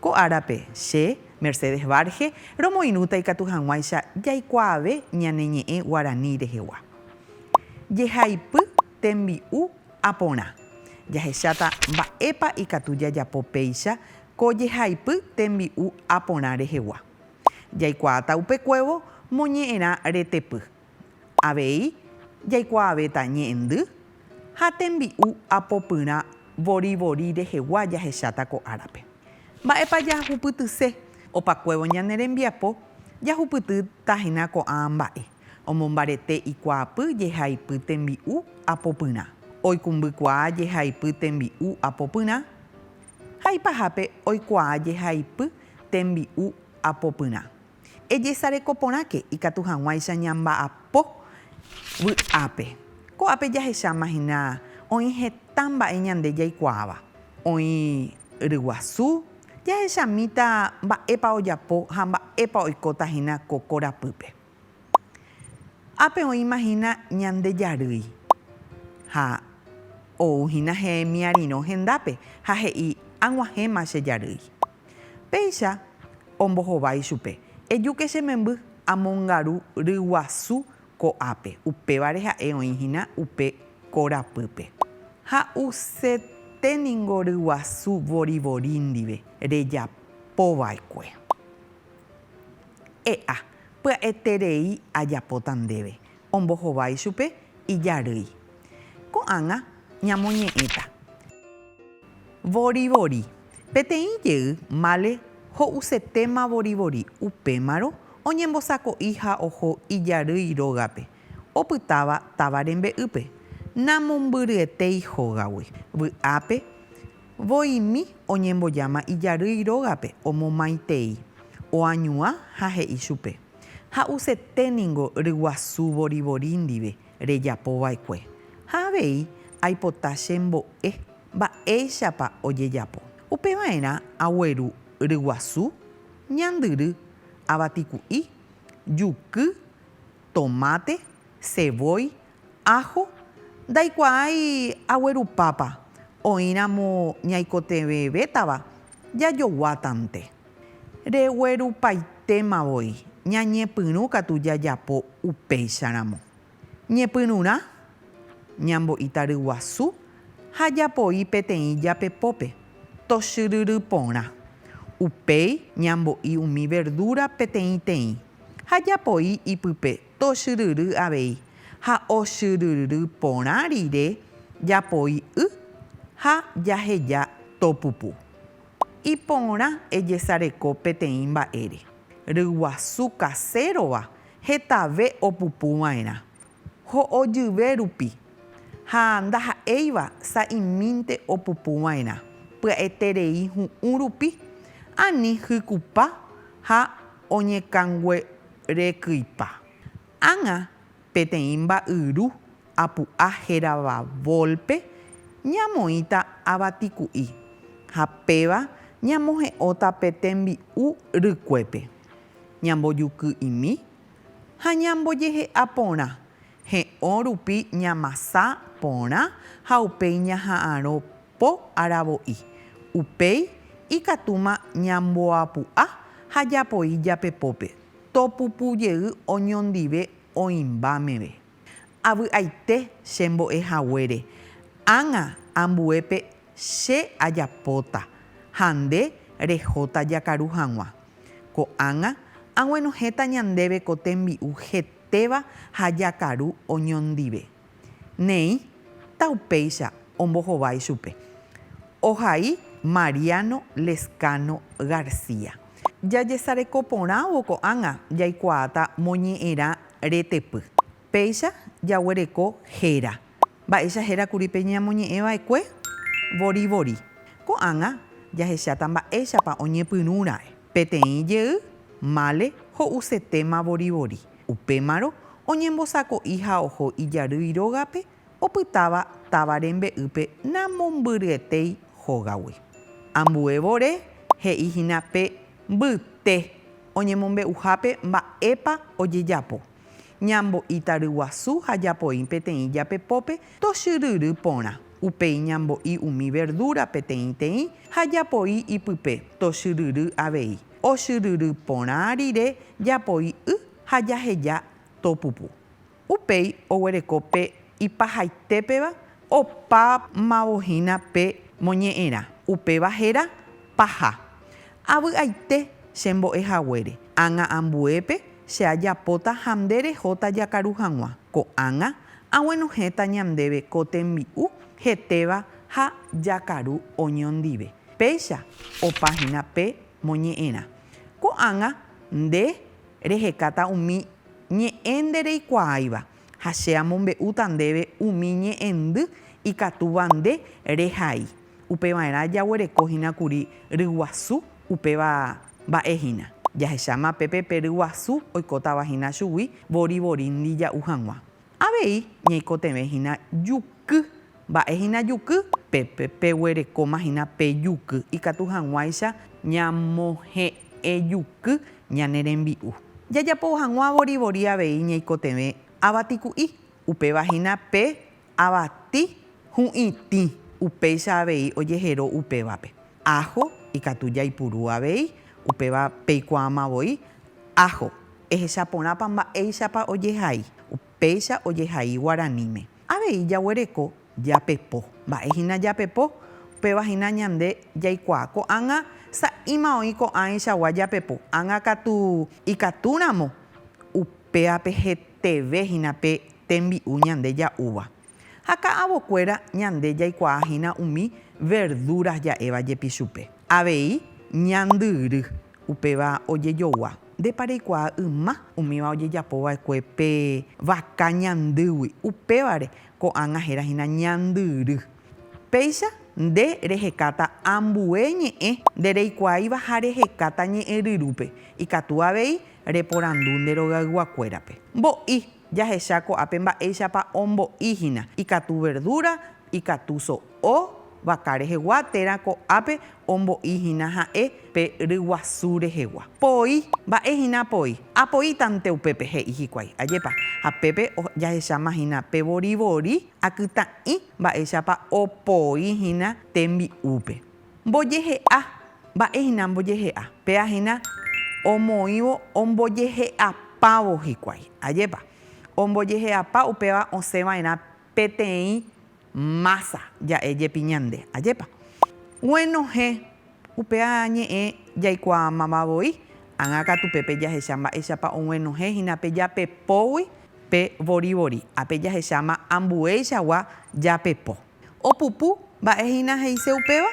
Ko árape, che, Mercedes Varge, romoirũta ikatu hag̃uáicha jaikuaave ñane ñe'ẽ guarani rehegua. Jehaipy tembi'u a porã. Jahecháta mba'épa ikatu jajapo péicha ko jehaipy tembi'u a porã rehegua. Jaikuaáta upekuévo moñe'ẽrã retepy. Avei jaikuaavéta ñe'ẽndy ha tembi'u apopyrã vorivori rehegua jahecháta ko árape. Mba'épa jahupytyse opakuévo ñane rembiapo jahupytýtahína ko'ã mba'e, omombarete ikuaapy jehaipy tembi'u apopyrã, oikumbykuaa jehaipy tembi'u apopyrã ha ipahápe oikuaa jehaipy tembi'u apopyrã. Ejesareko porãke ikatu hag̃uáicha ñamba'apo vy'ápe. Ko'ápe jahecháma hína oĩ heta mba'e ñande jaikuaáva. Oĩ ryguasu, jahechamíta mba'épa ojapo ha mba'épa oikóta hína ko korapýpe. Ápe oĩma hína ñande jarýi ha ou hína hemiarirõ hendápe ha he'i, Ag̃uahẽma che jarýi. Péicha ombohova ichupe, Ejuke che memby, amongaru ryguasu ko'ápe, upévare ha'e oĩ hína upe korapýpe. Ha'usete ningo ryguasu vorivori ndive rejapova'ekue. E'a, pya'eterei ajapóta ndéve, Ombohova ichupe ijarýi. Ko'ág̃a ñamoñe'ẽta. Vorivori. Peteĩ jey Male ho'usetéma vorivori upémarõ oñembosako'i ha oho ijarýi rógape opytáva táva rembe'ýpe, namombyryetéi hógagui. Vy'ápe voimi oñembojáma ijarýi rógape omomaitei, oañuã ha he'i chupe. Ha'usete ningo ryguasu vorivori ndive rejapo va'ekue, ha avei aipota chembo'e mba'éichapa ojejapo. Upe va'erã agueru ryguasu, ñandyry, avatiku'i, juky, tomate, ceboy Aho ndaikuaái aguerupápa, oĩramo ñaikotevẽvétava jajoguátante. Reguerupaitéma voi ñañepyrũ katu jajapo upéicharamo. Ñepyrũrã, ñambo'i taryguasu ha japoi peteĩ japepópe, tochyryry porã. Upéi ñambo'i umi verdura peteĩteĩ ha japoi ipype Tochyryry avei ha ochyryry porã rire japoi y ha jaheja topupu. Iporã ejesareko peteĩ mba'ére, ryguasu kasérova hetave opupu va'erã, ho'ojyve rupi, ha ndaha'éiva sa'imínte opupu va'erã pya'eterei hu'ũ rupi ani hykupa ha oñekangue Rekypa. Ág̃a peteĩ mba'yru apu'a hérava volpe ñamoĩta avatiku'i ha péva ñamohe'óta pe tembi'u rykuépe. Ñambojuky'imi ha ñambojehe'a porã, he'õ rupi ñamasa porã ha upéi ñaha'arõ Po aravo'i. Upéi ikatúma ñamboapu'a ha japoi japepópe, topupu jey oñondive oĩmba meve. Avy'aite che mbo'e haguére, ág̃a ambuépe che ajapóta ha nde rehóta jakaru hag̃ua. Ko'ág̃a aguenohẽta ñandéve ko tembi'u hetéva ha jakaru oñondive. Néi ta upéicha ombohovái chupe. Ohai Mariano Lezcano García. Jajesareko porãvo ko'ág̃a jaikuaáta moñe'ẽrã retepy. Péicha jaguereko héra. Mba'éicha héra kuri pe ñamoñe'ẽ va'ekue? Vorivori. Ko'ág̃a jahecháta mba'éichapa oñepyrũra'e. Peteĩ jey, male, ho'usetéma vorivori. Upémarõ oñembosako'i ha oho ijarýi rógape opytáva táva rembe'ýpe namombyryetéi hógagui. Ambue vore he'i hína pe mbyte oñemombe'uhápe mba'épa ojejapo. Ñambo'íta ryguasu ha japo'i peteĩ japepópe tochyryry porã. Upéi ñambo'i umi verdúra peteĩteĩ ha japo'i ipype tochyryry avei. ochyryry porã rire japoi y ha jaheja to pupu. Upéi oguereko pe ipahaitépeva opámavohína pe moñe'ẽrã, upéva héra paha. Avy'aite che mbo'e haguére, ág̃a ambuépe che ajapóta ha nde rehóta jakaru hag̃ua, ko'ág̃a aguenohẽta ñandéve ko tembi'u hetéva ha jakaru oñondive. Péicha opa hína pe moñe'ẽrã. Ko'ág̃a nde rehekáta umi ñe'ẽ nde reikuaáiva, ha che amombe'úta ndéve umi ñe'ẽndy ikatúva nde rehai. Upeva'erã jaguereko hína kuri ryguasu, upéva mba'e hína. Jahecháma pépe pe ryguasu oikótava hína chugui vorivorindi ja'u hag̃ua. Avei ñaikotevẽ hína juky. Mba'e hína juky? Pépe peguerekóma hína pe juky ikatu hag̃uáicha ñamohe'ẽjuky ñane rembi'u. Jajapo hag̃ua vorivori avei ñaikotevẽ avatiku'i, upéva hína pe avati hu'itĩ, upéicha avei ojehero upévape. Ajo ikatu jaipuru avei, upéva peikuaamavoi ajo. Ehecha porãpa mba'éichapa ojehai. Upéicha ojehai guaraníme. Avei jaguereko japepo. Mba'e hína japepo? Upéva hína ñande jaikuaa ko'ág̃a sa'íma oĩ ko'ãichagua japepo ág̃a katu ikatúramo. Upévape heteve hína pe tembi'u ñande ja'úva. Ha ka'avokuéra ñande jaikuaa hína umi verdúras ja'éva jepi chupe. Avei ñandyry, upéva ojejogua. Ndépa reikuaa yma umíva ojejapo va'ekue pe vaka ñandýgui, upévare ko'ág̃a héra hína ñandyry. Péicha nde rehekáta ambue ñe'ẽ nde reikuaáiva ha rehekáta ñe'ẽryrúpe, ikatu avei reporandu nde rogayguakuérape. Mbo'i. Jahecha ko'ápe mba'éichapa ombo'i hína, ikatu verdura, ikatu so'o, vaka rehegua térã ko'ápe ombo'i hína ha'e pe ryguasu rehegua. Poi, mba'e hína poi? Apoítante upépe, he'i hikuái. Ajépa. Ha pépe jahecháma hína pe vorivori, akytã'i mba'éichapa opoi hína tembi'úpe. Mbojehe'a. Mba'e hína mbojehe'a? Péa hína omoĩvo ombojehe'apávo hikuái. Ajépa? Ombojehe'apa upéva osẽ va'erã peteĩ mása ja'e jepi ñande. Ajépa? Guenohẽ, upéa ñe'ẽ jaikuaamava voi, ágã katu pépe jahecha mba'éichapa oguenohẽ hína pe japepógui pe vorivori, ápe jahecháma ambueichagua japepo. Opupu, mba'e hína he'ise upéva?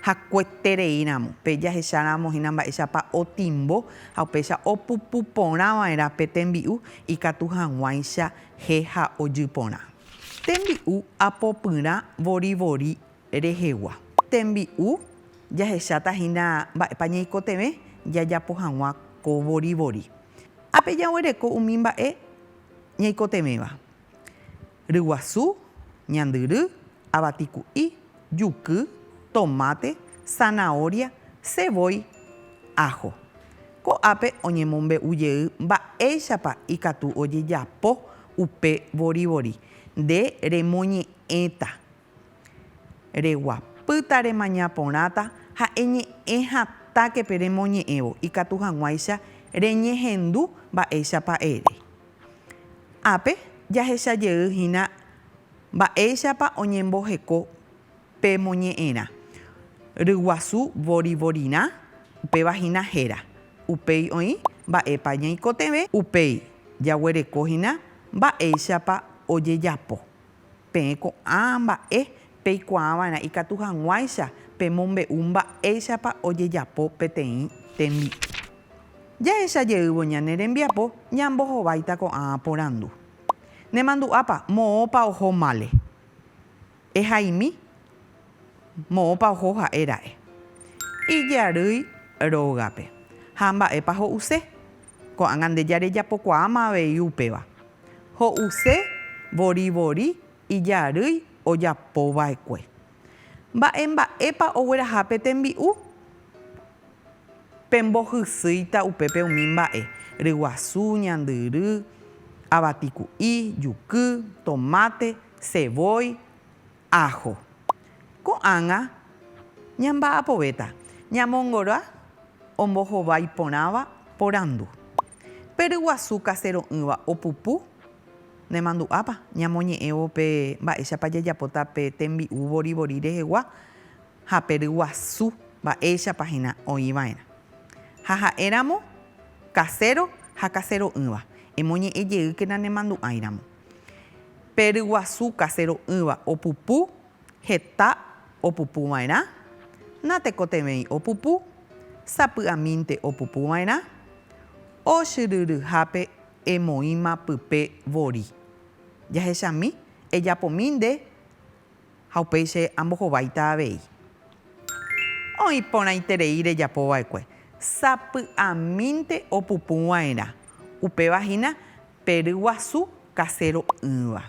Hakueterei ramo, pe jahecha ramo hína mba'éichapa otimbo ha upéicha opupu porã va'erã pe tembi'u ikatu hag̃uáicha he ha ojy porã. Tembi'u apopyrã vorivori rehegua. Tembi'u jahecháta hína mba'épa ñaikotevẽ jajapo hag̃ua ko vorivori. Ápe jaguereko umi mba'e ñaikotevẽva. ryguasu, ñandyry, avatiku'i, juky, tomate, zanahoria, ceboy, ajo. Ko'ápe oñemombe'u jey mba'éichapa ikatu ojejapo upe vorivori, nde remoñe'ẽta. Reguapýta remaña porãta ha eñe'ẽ hatãke pe remoñe'ẽvo ikatu hag̃uáicha reñehendu mba'éichapa ere. Ápe jahecha jey hína mba'éichapa oñemboheko pe moñe'ẽrã ryguasu vorivorirã, upéva hína héra, upéi oĩ mba'épa ñaikotevẽ, upéi jaguereko hína mba'éichapa ojejapo. Peẽ ko'ã mba'e peikuaava'erã ikatu hag̃uáicha pemombe'u mba'éichapa ojejapo peteĩ tembi'u. Jahecha jeývo ñane rembiapo ñambohováita ko'ã porandu, Nemandu'ápa moõpa oho mále? Ehaimi? Moõpa oho ha'e ra'e ijarýi rógape ha mba'épa ho'use? Ko'ág̃a nde jarejapokuaáma avei upéva. Ho'use vori vori ijarýi ojapo va'ekue. Mba'e mba'épa ogueraha pe tembi'u? Pembohysýita upépe umi mba'e, ryguasu, ñandyry, avatiku'i, juky, tomate, ceboy, Ajo. Ko'ág̃a ñamba'apovéta ñamongoroa ombohovái porãva porandu. Pe ryguasu kasero'ỹva opupu, nemandu'ápa ñamoñe'ẽvo pe mba'éichapa jajapóta pe tembi'u vorivori rehegua ha pe ryguasu mba'éichapa hína oĩ va'erã. Ha ha'éramo kaséro ha kasero'ỹva, emoñe'ẽ jeýkena nemandu'áiramo. Pe ryguasu kasero'ỹva opupu, heta opupuva'erã, natekotevẽi opupu, sapy'amínte opupuva'erã, ochyryryhápe emoĩma pype vori. Jahechami, ejapomi nde ha upéi che ambohováita avei. Oĩ porãiterei rejapo va'ekue, sapy'amínte opupu va'erã, upéva hína pe ryguasu kasero'ỹva.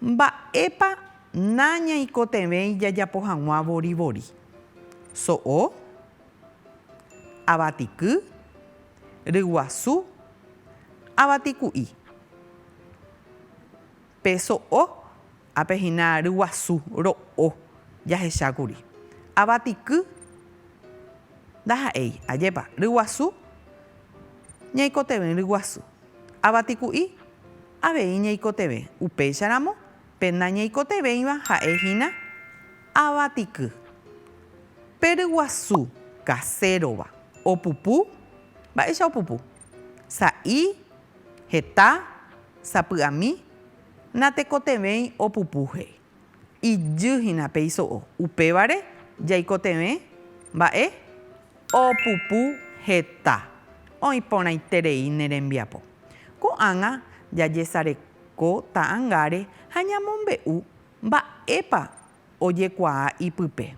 Mba'épa nañaikotevẽi jajapo hag̃ua vorivori? So'o, avatiky, ryguasu, avatiku'i. Pe so'o, ápe hína ryguasu, ro'o, jahecha kuri. Avatiky, ndaha'éi, ajépa, ryguasu, ñaikotevẽ ryguasu. Avatiku'i, avei ñaikotevẽ, upéicharamo, pe nañaikotevẽiva ha'e hína avatiky. Pe ryguasu kasérova opupu, mba'éicha opupu? Sa'i. Heta sapy'ami natekotevẽi opupu he'i. Ijy hína pe iso'o. Upévare jaikotevẽ mba'e opupu heta oĩ porãiterei ne rembiapo. Ko'ág̃a jajesareko ta'angáre ha ñamombe'u mba'épa ojekuaa ipype.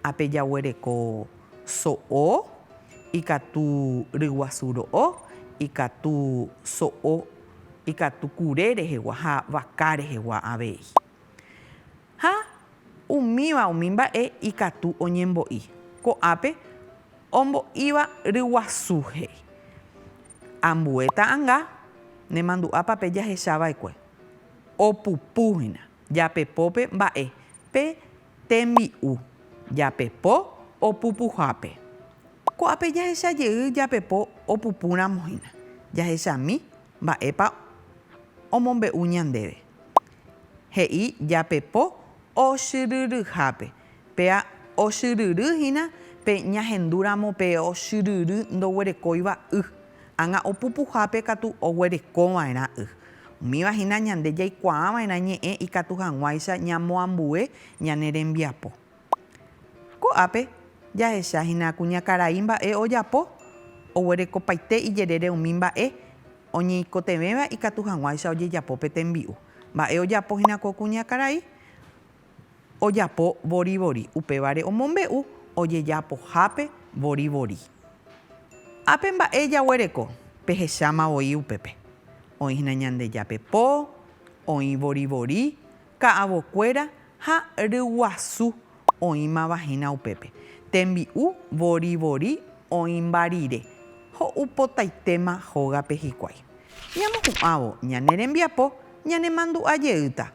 Ha pe jaguereko so'o, ikatu ryguasu ro'o, ikatu so'o, ikatu kure rehegua ha vaka rehegua avei. Ha umíva umi mba'e ikatu oñembo'i. Ko'ápe ombo'íva ryguasu he'i. Ambue ta'anga nemandu'ápa pe jahechava'ekue. Opupu hína. Japepópe mba'e pe tembi'u japepo opupuhápe. Ko'ápe jahecha jey japepo opupúramo hína, jahechami mba'épa omombe'u ñandéve. He'i japepo osyryryhápe Péa ochyryry hína pe ñahendúramo pe ochyryry ndoguerekóiva y, ág̃a opupuhápe katu oguerekova'erã y. Umíva hína ñande jaikuaava'erã ñe'ẽ ikatu hag̃uáicha ñamoambue ñane rembiapo. Ko'ápe jahecha hína kuñakarai mba'e ojapo, oguerekopaite ijerére umi mba'e oñeikotevẽva ikatu hag̃uáicha ojejapo pe tembi'u. Mba'e ojapo hína ko kuñakarai? ojapo vorivori, upévare omombe'u ojejapohápe vorivori. Ápe mba'e jaguereko, pehecháma voi upépe. Oĩ hína Ñandejápe po, oĩ vorivori, ka'avokuéra ha ryguasu oĩmava hína upépe. Tembi'u vorivori oĩmba rire, ho'u potaitéma hógape hikuái. Ñamohu'ãvo ñane rembiapo ñanemandu'a jeýta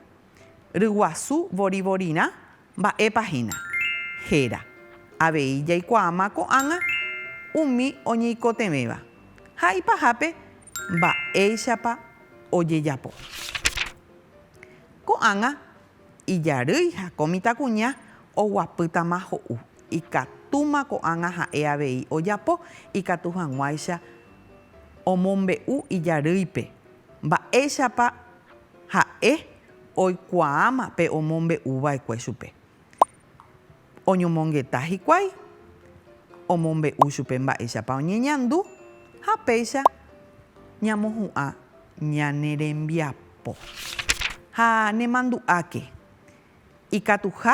Ryguasu vorivorirã mba'épa hína, héra. Avei jaikuaáma ko'ág̃a umi oñeikotevẽva ha ipahápe mba'éichapa ojejapo. Ko'ág̃a ijarýi ha ko mitãkuña oguapýtama ho'u, ikatúma ko'ág̃a ha'e avei ojapo ikatu hag̃uáicha omombe'u ijarýipe. Mba'éichapa ha'e oikuaáma pe omombe'u va'ekue chupe? Oñomongeta hikuái, omombe'u chupe mba'éichapa oñeñandu ha péicha ñamohu'ã ñane rembiapo. Ha nemandu'áke, ikatuha